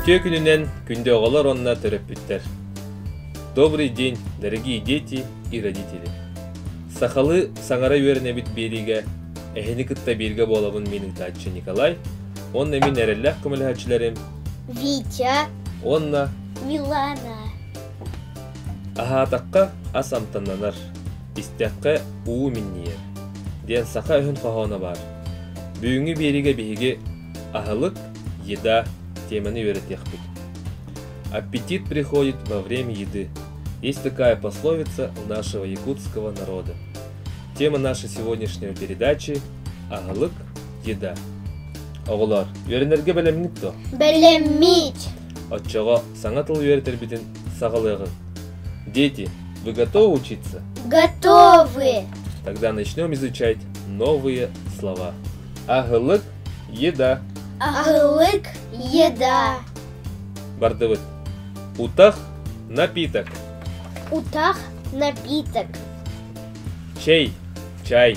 Үтүө күнүнэн күндү оҕолор уонна төрөппүттэр. Добрый день, дорогие дети и родители. Сахалы саҥара үөрэнэбит биэриигэ эһини кытта бииргэ буолабын мин ыытааччы Николай уонна мин эрэллээх көмөлөһөөччүлэрим Витя уонна Милана. Аһаатахха ас амтаннанар, истэххэ уу минньийэр, диэн саха өһүн хоһооно баар. Бүгүҥҥү биэриигэ биһиги аһылык, еда теманы үөрэтиэхпит. Аппетит приходит во время еды. Есть такая пословица у нашего якутского народа. Тема нашей сегодняшней передачи – аһылык, Дьида. Оҕолоор, үөрэнэргэ бэлэммит дуо? Бэлэммит. Оччоҕо саҥа тыл үөрэтэрбитин саҕалыаҕыҥ. Дети, вы готовы учиться? Готовы. Тогда начнем изучать новые слова. Ahылык – еда. Ahылык – еда. Бардыбыт. Утах – напиток. Утах – напиток. Чай – чай.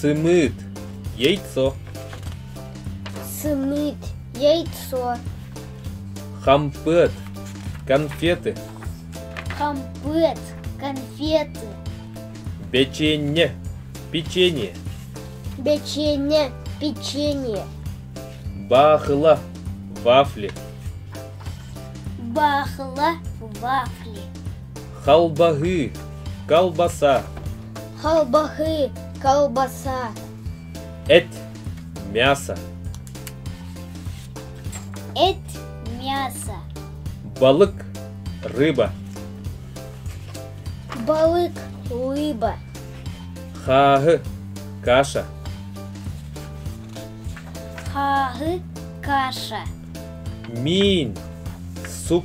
Сымыыт – яйцо. Сымыыт – яйцо. Хампыат – конфеты. Хампыат – конфеты. Печенье – печенье. Печенье – печенье. Бахыла – вафли. Бахыла – вафли. Халбаһы – колбаса. Халбахы, колбаса. Эт, мясо. Эт, мясо. Балык, рыба. Балык, рыба. Хааһы, каша. Хааһы, каша. Миин, суп.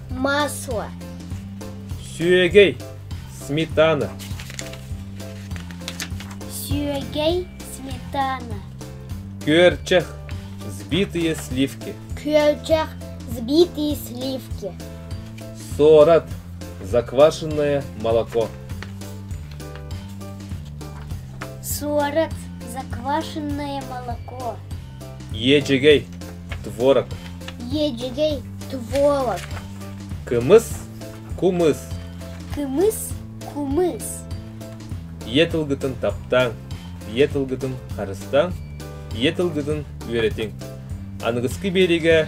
Маасуа Сүөгэй Сметана Сүөгэй Сметана Күөрчэх Сбитые сливки Күөрчэх Сбитые сливки Сорат Заквашенное молоко Сорат Заквашенное молоко Иэдьэгэй творог. Иэдьэгэй творог. Кымыс кумыс. Кымыс кумыс. Ийэ тылгытын таптааҥ, ийэ тылгытын харыстааҥ, ийэ тылгытын үөрэтиҥ. Аныгыскы биэриигэ